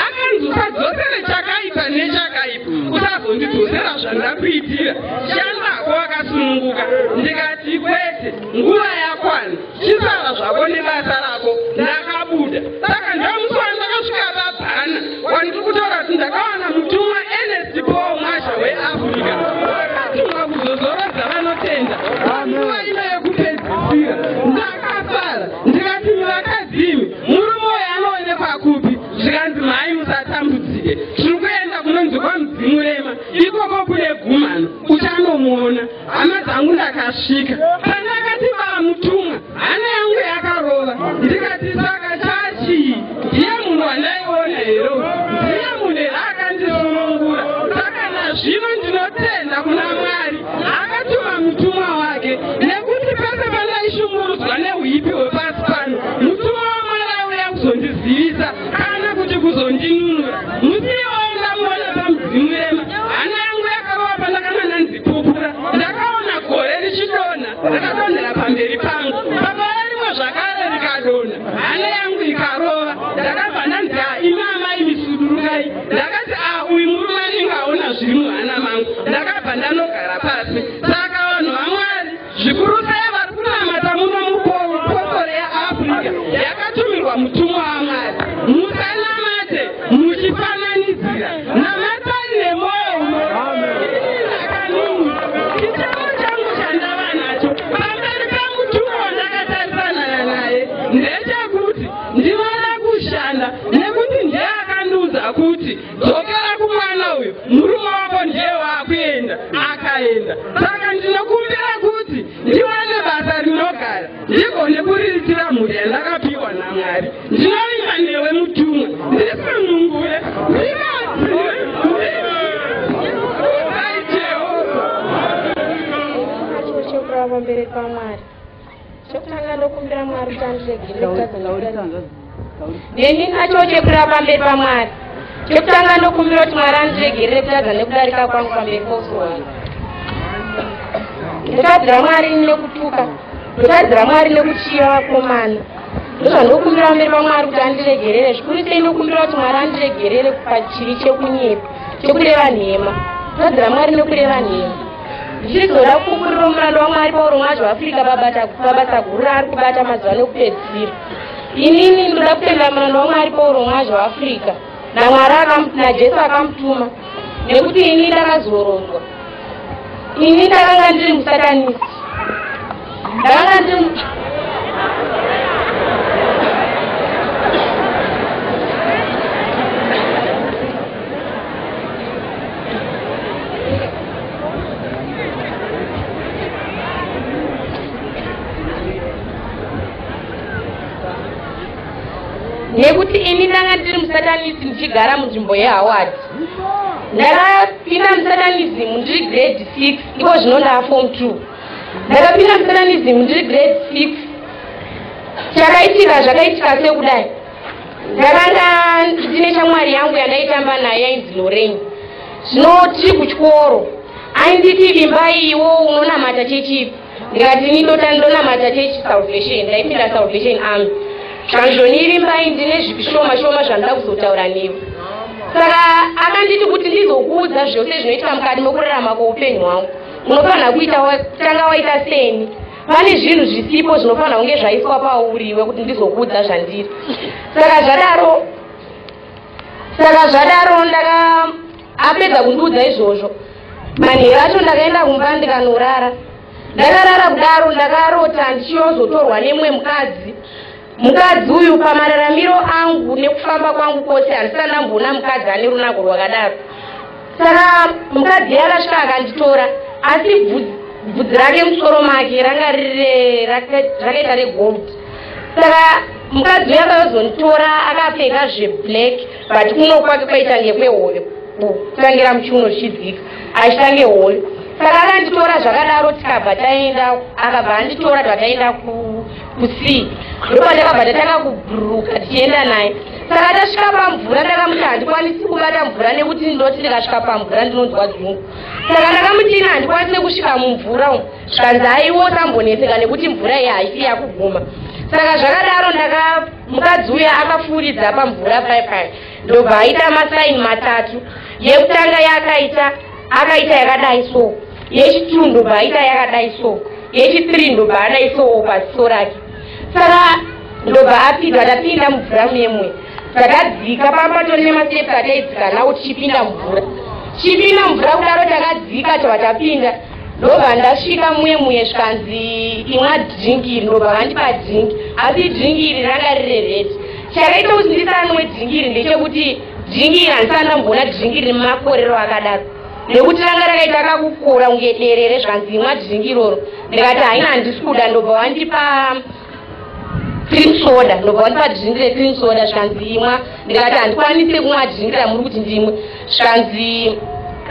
akanzi usadzosere chakaipa nechakaipa usazondidzosera zvandakuitira shandako akasununguka ndikati kwete nguva yakwana chisara zvako nebasa rako ndakabuda saka ndamusana ndakasvika vabhana wandiri kutaura kuti ndakawana mutumwa enest paul masha weafrica akatumwa kuzozorodza vanotenda nguva ino yekupedzisira ndakafara ndikati mivakadzimi Murume uyu anoonekwa kupi? Zvikanzi mhai musatambudzike. Tiri kuenda kunonzi kwaMudzimurema. Ikoko kune gumhano. Uchanomuona. Hama dzangu ndakasvika. Pandakati vamutumwa hana yangu yakarova. Ndikati saka chachii? Ndiye munhu wandaiona here uyu? Ndiye munhu here akandisunungura? Saka nazvino ndinotenda kuna Mwari. Akatuma mutumwa wake nekuti pese pandaishungurudzwa nehuipi hwepasi pano, mutumwa waMwari auya kuzondizivisa kana kuti kuzondinunura. Musi iwoyo ndamuona pamudzimu rema, hana yangu yakarova pandakanga ndanzi pupura. Ndakaona gore richidonha, rakadonhera pamberi pangu. Pakauya rimwe zvakare rikadonha, hana yangu ikarova. Ndakabva ndanzi, ah, imi amai misudurukai. ndakati ah uyu murume anenge aona zviri muhana mangu ndakabva ndanogara pasi saka vanhu vamwari zvikuru sei vari kunamata muno mupostori yeafrica yakatumirwa mutumwa wamwari musanamate muchifananidzira namatani nemwoyo unoakaninichichavo changu chandava nacho pamberi pemutumwa wandakatarisana naye ndechekuti Ndinoda kushanda nekuti ndiye akandiudza kuti dzokera kumwana uyu murume wako ndiye waakuenda akaenda saka ndinokumbira kuti ndiwane basa rinogara ndigone kuriritira mhuri yandakapiwa namwari ndinovimba newe mutumwa ndisunungure pamberi pamwari chekutanga ndokumbira mwari kuti andiregerere kutadza neni nacho chekuda pamberi pamwari chekutanga ndokumbira kuti mwari andiregerere kutadza nekudarika kwangu pamberi pousowai ndotadzira mwari nekutuka ndotadzira mwari nekuchiya vakomana ndozvandokumbira pamberi pamwari kuti andiregerere zvikuru sei ndokumbira kuti mwari andiregerere pachivi chekunyepa chekureva nhema ndotadzira mwari nekureva nhema zvichizoda kupupurira murandu wamwari pauro mwacho afrika babata mabasa guru raari kubata mazuva nekupedzisira inini ndoda kutenda murandu wamwari pauro mwacho waafrica namwari najesu akamutuma nekuti ini ndakazorodzwa ini ndakanga ndiri musatanisi ndanga ndiri nekuti ini ndanga ndiri musatanisi ndichigara munzvimbo yehaward ndakapinda musatanism ndiri grade six iko zvino ndaafom two ndakapinda musananizimu ndiri grade six chakaitika zvakaitika sekudai ndakanga ndine shamwari yangu yandaitamba nayo yainzi loreni zvino tiri kuchikoro ainditi vimbai iwo unonamata chechipi ndikati ini ndota ndonamata chechi salvation ndaipinda salvation army zvanzvonivimbai ndine zvishoma shoma zvandoda kuzotaura newe saka akanditi kuti ndizokuudza zvose zvinoitika mukati mekurarama kweupenyu hwangu unofanira kuita tanga waita seni pane zvinhu zvisipo zvinofanira kunge zvaiswa pauriwe kuti ndizokuudza zvandiri saka zvadaro saka zvadaro ndaka apedza kundiudza izvozvo manheru acho ndakaenda kumba ndikanorara ndakarara kudaro ndakarota ndichiyozotorwa nemumwe mukadzi Mukadzi uyu pamararamiro angu nekufamba kwangu kwose handisana ndamboona mukadzi ane runako rwakadaro. Saka mukadzi iye akasvika akanditora asi bvudzi rake musoro make ranga riri rakaita regold. Saka mukadzi uye akazonitora akapfeka zveblack but kuno kwake kwaita ngekwehoyo kutangira muchiuno zvichidzika achitange hoyo saka akanditora zvakadaro tikabva taenda akabva anditora tataenda ku kusi ndopa ndakabva ndatanga kubhururuka tichienda naye saka tasvika pamvura ndakamuti handikwanisi kubata mvura nekuti ndinoti ndikasvika pamvura ndinonzwa dzungu saka ndakamuti ina handikwanisi nekusvika mumvura umu zvikanzi haiwo samboneseka nekuti mvura iyi haisi yakuguma saka zvakadaro ndaka mukadzi uya akafuuridza pamvura pai pai ndobva aita masaini matatu yekutanga yaakaita akaita yakadai so yechitwu ndobva aita yakadai so yechithree ndobva adai so paziso rake saka ndobva apinda tapinda mumvura memwe takadzika pamba tori nemasteps ataidzika nawo tichipinda mvura tichipinda mvura kudaro takadzika tava tapinda ndobva ndasvika muye muye zvikanzi imwa drinki iri ndobva vandipa drinki asi drinki iri ranga riri redi chakaita kuti ndisanwe drinki iri ndechekuti dhingi iri handisati ndamboona dhingi rine makorero akadaro nekuti ranga rakaita kakukura kunge derere zvanzi imwa dhingi iroro ndikati haina handisi kuda ndobva wandipa cream soda ndobva wandipa dhingi recream soda zvikanzi imwa ndikati handikwanise kumwa dhingi ramuri kuti ndimwe zvikanzi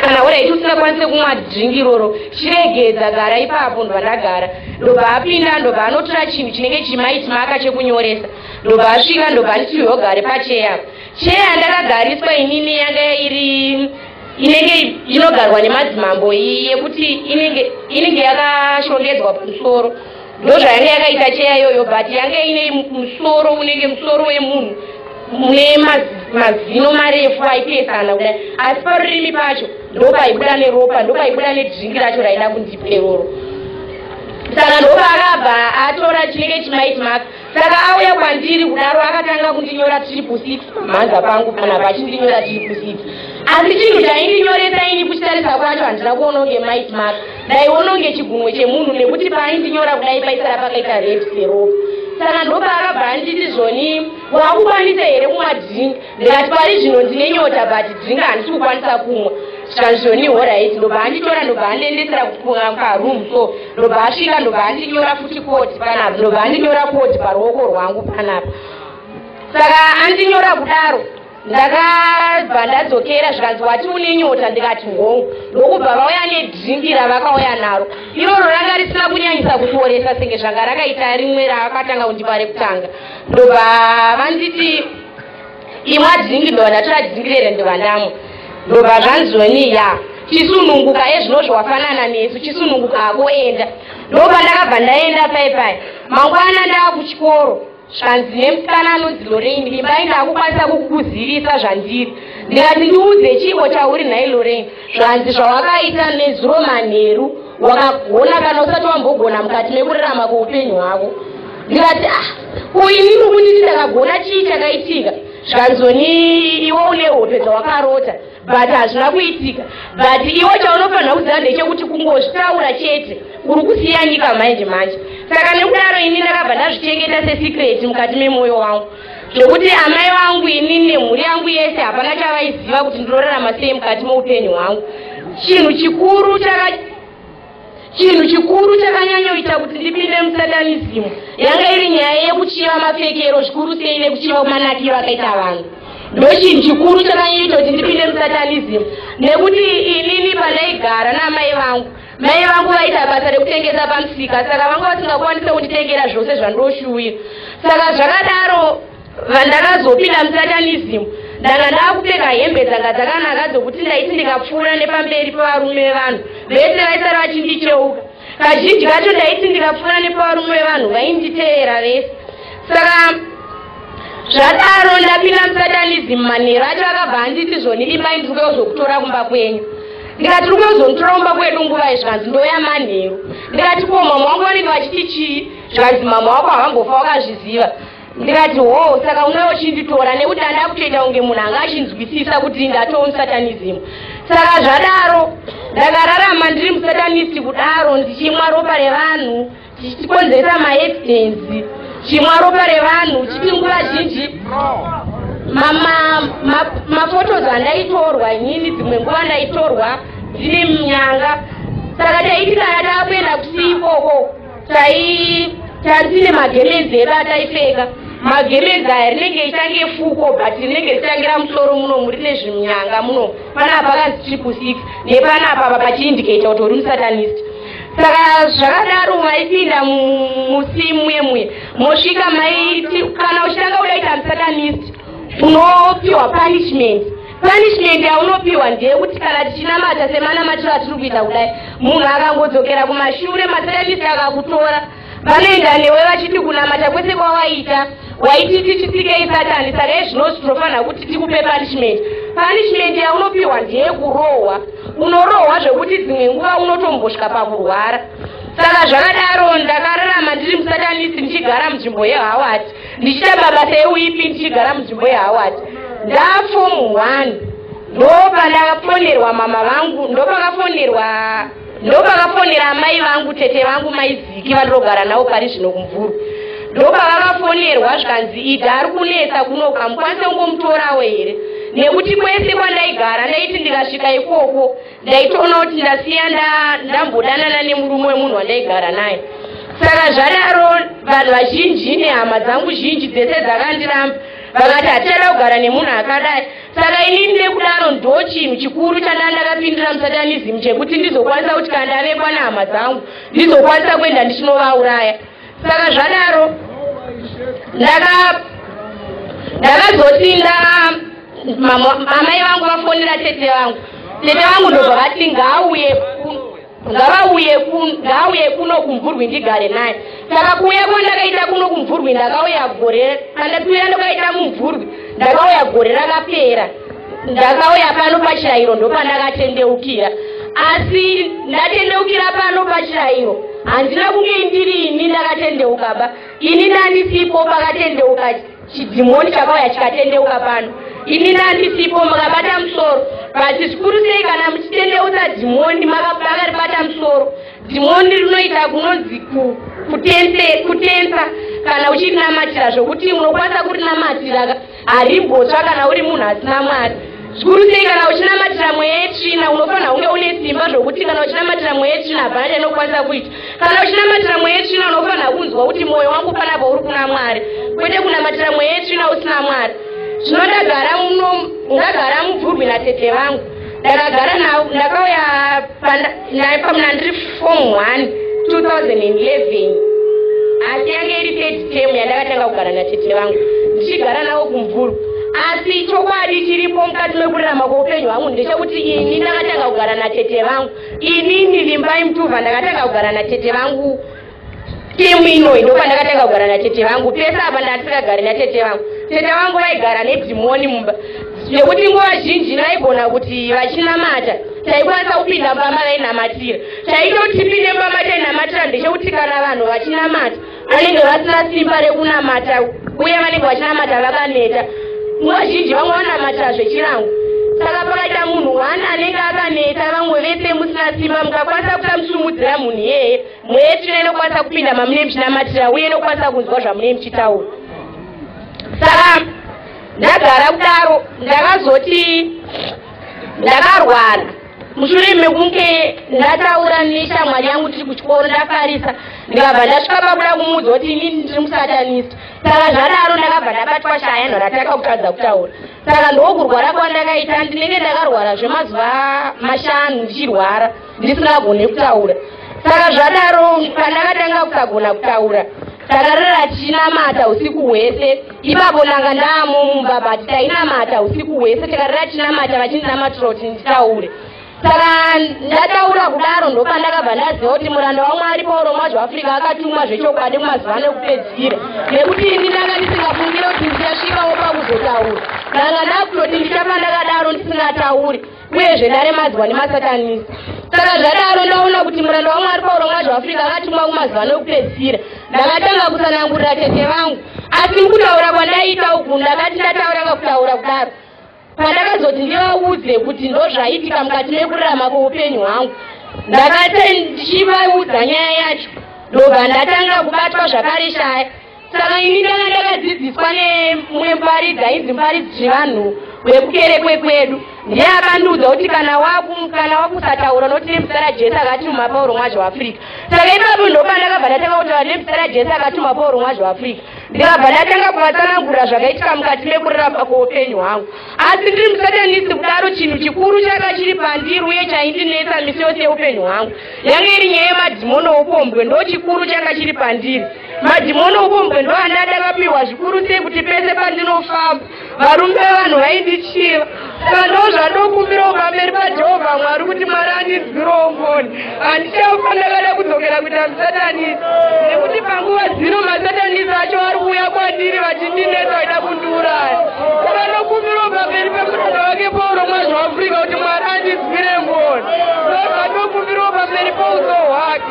kana waraiti usingakwanise kumwa dhingi iroro chiregedza gara ipapo ndobva ndagara ndobva apinda ndobva anotora chinhu chinenge chimaiti maka chekunyoresa ndobva asvika ndobva anditi yogare pacheyapo Chair yandakagariswa inini yanga iri inenge inogarwa nemadzimambo iyi yekuti inenge inenge yakashongedzwa pamusoro ndozvayanga yakaita cheya iyoyo but yanga ine musoro unenge musoro wemunhu mune mazino marefu aipesana kudai asi parurimi pacho ndopaibuda neropa ndopaibuda nedringi racho raida kundipa iroro saka ndopaakabva atora chinenge chimaitmaka saka auya kwandiri kudaro akatanga kundinyora triple six pamhanza pangu panapa achindinyora triple six asi chinhu chaindinyoresa ini kuchitarisa kwacho handina kuona kunge mait mak ndaiona kunge chigunwe chemunhu nekuti paaindinyora kudai paisara pakaita red seropa saka ndopaakabva anditi zvoni wakukwanisa here kumwa drink ndikati pari zvino ndine nyota but drink handisi kukwanisa kumwa zvikanzi zvoni horit ndobva anditora ndobva andiendesera kukunga kwaroom so ndobva asvika ndobva andinyora futi koti panapa ndobva andinyora koti paruoko rwangu panapa saka andinyora kudaro ndakabva ndadzokera zvikanzi wati une nyota ndikati hongu ndokubva vauya nedringi ravakauya naro iroro ranga risina kunyanyisa kukuoresa senge zvanga rakaita rimwe raakatanga kundipa rekutanga ndobva vanditi imwe adzingi ndovana tiradzingirere ndivanamo ndobva zvanzoni ya chisununguka ezvinozvo wafanana nesu chisununguka hako enda ndobva ndakabva ndaenda pai pai mangwana ndava kuchikoro zvanzi nemusikana anonzi lorain imba inakukwanisa kukuzivisa zvandiri ndikati ndiudze chiiko chauri nhai lorain zvanzi zvawakaita nezuro manheru wakagona kana usati wambogona mukati mekurarama kweupenyu hwako ndikati ah kuinini kunditi ndakagona chii chakaitika zvanzoni iwe une hope dzawakarota but hazvina kuitika but iwe chaunofanira kuziva ndechekuti kungozvitaura chete uri kusiya nyika manje manje saka nekudaro ini ndakabva ndazvichengeta sesecret mukati memwoyo wangu zvokuti amai vangu ini nemhuri yangu yese hapana chavaiziva kuti ndinorarama sei mukati moupenyu hwangu chinhu chikuru chaka chinhu chikuru chakanyanyoita kuti ndipinde musatanizimu yanga iri nyaya yekuchiva mapfekero zvikuru sei nekuchiva kumanakiro akaita vanhu ndochinhu chikuru chakanyanyoita kuti ndipinde musatanizimu nekuti inini pandaigara naamai vangu Mai vangu vaida basa rekutengesa pamusika saka vanga vasingakwanisa kunditengera zvose zvandoshuwira. Saka zvakadaro vandakazopinda musatanism ndanga ndakupfeka hembe dzanga dzakanaka dzokuti ndaiti ndikapfuura nepamberi pevarume vevanhu vese vaisara vachindicheuka. Kazhinji kacho ndaiti ndikapfuura nepavarume vevanhu vainditeera vese. Saka zvadaro ndapinda musatanism manheru acho akabva anditi zvoni imai ndiri kuya kuzokutora kumba kwenyu ndikati ndiri kuya kuzonditora kumba kwedu nguva izvi kanzi ndoya manheru ndikati ko mama wangu vanenge vachiti chii zvikanzi mama wako havangofa wakazviziva ndikati hoo saka unouya uchinditora nekuti anda kutoita kunge munhu anga achinzwisisa kuti ndatoo musatanism saka zvadaro ndakararama ndiri musatanisti kudaro ndichimwa ropa revanhu chichikonzeresa maaccidents chimwa ropa revanhu chiti nguva zhinji mafotos andaitorwa inini dzimwe nguva ndaitorwa dzine minyanga saka taiti kana taakuenda kusii ikoko tai tandine magemenzi edu ataipfeka magemenzi aya rinenge ichange fuko but rinenge richangira musoro muno muri nezvimyanga muno panapa kanzi triple six nepanapa apa pachiindicata kuti uri musatanist saka zvakadaro maipinda musimwe mwe mosvika maiti kana uchitanga udaita msatanist unopiwa punishment punishment yaunopiwa ndeyekuti kana tichinamata semanamatiro atiri kuita kudai munhu akangodzokera kumashure masatanist akakutora vanoenda newe vachiti kunamata kwese kwawaita waiti tichisikei satani saka izvino zvinofanira kuti tikupe punishment punishment yaunopiwa ndeyekurohwa unorohwa zvekuti dzimwe nguva unotombosvika pakurwara saka zvakadaro ndakararama ndiri musatanisi ndichigara munzvimbo yehawati ndichita mabasa euipi ndichigara munzvimbo yehawati ndafomu one ndopandakafonerwa mama vangu ndopakafonerwa ndopakafonera amai vangu tete vangu maiziki vandinogara navo pari zvino kumvuru ndopavakafonerwa zvikanzi ida ari kunetsa kunoka mukwanise kungomutorawo here nekuti kwese kwandaigara ndaiti ndikasvika ikoko ndaitoona kuti ndasiya ndambodanana nemurume wemunhu wandaigara naye saka zvadaro vanhu vazhinji nehama dzangu zhinji dzese dzakandiramba vakati hatichada kugara nemunhu akadai Saka inini nekudaro ndochinhu chikuru chandanga ndakapindira musatanism chekuti ndizokwanisa kuti kana ndavekwa nehama dzangu ndizokwanisa kuenda ndichinovauraya saka zvadaro ndakazoti nda amai vangu vafonera tete vangu tete vangu ndobva vati ngaauye ngavauye kun- ngaauye kuno kumvurwi ndigare naye saka kuuya kwandakaita kuno kumvurwi ndakauya gore pandatuira ndakaita mumvurwi ndakauya gore rakapera ndakauya pano pachirairo ndopandakatendeukira asi ndatendeukira pano pachirairo handina kunge ndiri ini ndakatendeuka ba ini ndandisipo pakatendeuka Chidhimoni chakauya chikatendeuka pano. Ini nandisipo makabata musoro. But zvikuru sei kana muchitendeutsa dhimoni makaribata musoro. Dhimoni rinoita kunonzi kutensa kana uchirinamatira zvokuti unokwanisa kurinamatira harimbotsva kana uri munhu asina mwari zvikuru sei kana uchinamatira mweya yetsvina unofanira kunge une simba zvokuti kana uchinamatira mweya yetsvina hapana chainokwanisa kuita Kana uchinamatira mweya yetsvina unofanira kunzwa kuti mwoyo wangu panapo uri kuna Mwari kwete kunamatira mweya yetsvina usina Mwari. Zvino ndagara muno ndagara mubvurwi natete vangu ndakagara navo ndakauya naye pamuna ndiri form 1 2011 asi yange iri third term yandakatanga kugara natete vangu ndichigara navo kumvuru asi chokwadi chiripo mukati mekurarama kweupenyu hwangu ndechekuti ini ndakatanga kugara natete vangu inini vimbai mtuva ndakatanga kugara natete vangu temu inoyi ndopa ndakatanga kugara natete vangu pese apa ndatisingagari natete vangu tete vangu vaigara nedhimoni mumba nekuti nguva zhinji vaigona kuti vachinamata taikwanisa kupinda mbama vainamatira taitoti tipinde mbama tainamatira ndechekuti kana vanhu vachinamata vanenge vasina simba rekunamata uye vanenge vachinamata vakaneta nguva zhinji vamwe vanamata zvechirango saka pakaita munhu one anenge akaneta vamwe vese musina simba mukakwanisa kusamusumudzira munhu iyeye mweya yetsvina inokwanisa kupinda mamune muchinamatira uye inokwanisa kunzwa zvamune muchitaura saka ndagara kudaro ndakazoti ndakarwara mushure mekunge ndataura neshamwari yangu tiri kuchikoro ndafarisa ndikabva ndasvika pakuda kumuudza kuti inini ndiri musatanista saka zvadaro ndakabva ndabatwa shaya yanhu rataka kutadza kutaura saka ndokurwara kwandakaita ndinenge ndakarwara zvemazuva mashanu ndichirwara ndisingagone kutaura saka zvadaro pandakatanga kusagona kutaura takarara tichinamata usiku hwese ipapo ndanga ndaamumumba but tainamata usiku hwese tikarira tinamata vachindimatirwa kuti nditaure saka ndataura kudaro ndopandakabva ndaziva kuti muranda wamwari pauro mwacho africa akatumwa zvechokwadi kumazuva ano ekupedzisira nekuti ini ndanga ndisingafungire kuti ndichasvikawo pakuzotaura ndanga ndakutoti ndichapa ndakadaro ndisingatauri uyezve ndaremadzwa nemasatanisi saka zvadaro ndaona kuti muranda wamwari pauro mwazi waafrica akatumwa kumazuva nokupedzisira ndakatanga kusanangurira tete vangu asi mukutaura kwandaiita uku ndakati ndataura kakutaura kudaro pandakazoti ndivaudze kuti ndozvaitika mukati mekurarama kweupenyu hwangu ndakati ndichivaudza nyaya yacho ndobva ndatanga kubatwa zvakare shaya Saka ini ndanga ndakadzidziswa nemumwe muparidzi ainzi muparidzi Chivanhu wekukerekwe kwedu. Ndiye akandiudza kuti kana waku kana wakusataura unoti nemuzita raJesu akatuma Pauro mwazi weAfrica. Saka ipapo ndopandakabva ndatanga kutaura nemuzita raJesu akatuma Pauro mwazi weAfrica. Ndikabva ndatanga kuvatsanangurira zvakaitika mukati mekurarama kweupenyu hwangu. Asi ndiri musatanisi kudaro chinhu chikuru chaka chiri pandiri uye chaindinetsa misi yose yeupenyu hwangu. Yange iri nyaya yemadhimono oupombwe ndochikuru changa chiri pandiri. Madhimoni okumbwe ndoane adakapiwa zvikuru sei kuti pese pandinofamba varume vevanhu vaindichiva saka ndo zvandokumbirawo pamberi pajehovha mwari kuti mwari andinzwirewo ngoni handichafa ndakada kudzokera kuita musatanisi nekuti panguva dzino masatanisi acho ari kuuya kwandiri vachindinetsa vaida kundiuraya saka ndokumbirawo pamberi pemuranda wake pauro mwazvo afrika kuti mwari andinzwire ngoni ndo zvandokumbirawo pamberi pouso hwake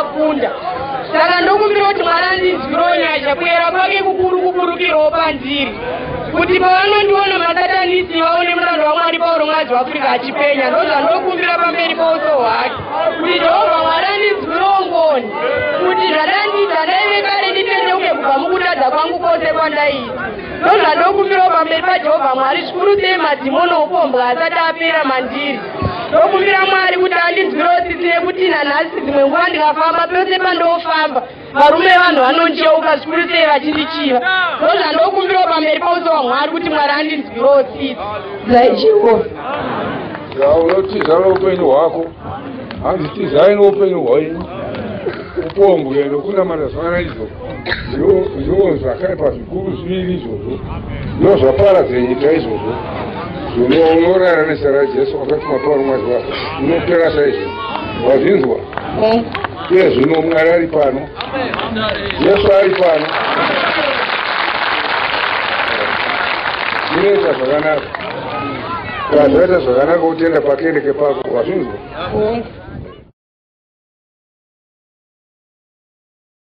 akunda saka ndokumbira kuti mwana ndinzwirewo nyasha kuyera kwake kukuru kuburukirwawo pandiri kuti pavanondiona masatanisi vaone murando wamwari pauro mwazi waafurika achipenya ndozvandokumbira pamberi pauso hwake kuti jehovha mwari andinzwire ungoni kuti zvandandiita ndaive kare nditendeuke kubva mukutadza kwangu kwose kwandaita ndozvandokumbirawo pamberi pajehovha mwari zvikuru sei madhimoni okuombwa asati apera mandiri ndokumbira mwari kuti andinzwirewo tsitsi nekuti nanhasi dzimwe nguva ndikafamba pese pandofamba varume vanhu vanonjeuka zvikuru sei vachindichiva ndozva ndokumbirawo pamberi pauso wamwari kuti mwari andinzwirewo tsitsi zai jehovha unotiza noupenyu hwako hanzi tizai noupenyu hwenyu upombwe nokunamata zvana izvo zviwo zvakaipa zvikuru zviviri izvozvo ndo zvapara dzenyika izvozvo zvinonorara nezera rajesu akatuma pauri mwari wako unopera saizvo wazvinzwa eh. Iye zvino Mwari ari pano, Jesu ari pano. Munoita zvakanaka, wazvaita zvakanaka kutenda pakereke pako, wazvinzwa?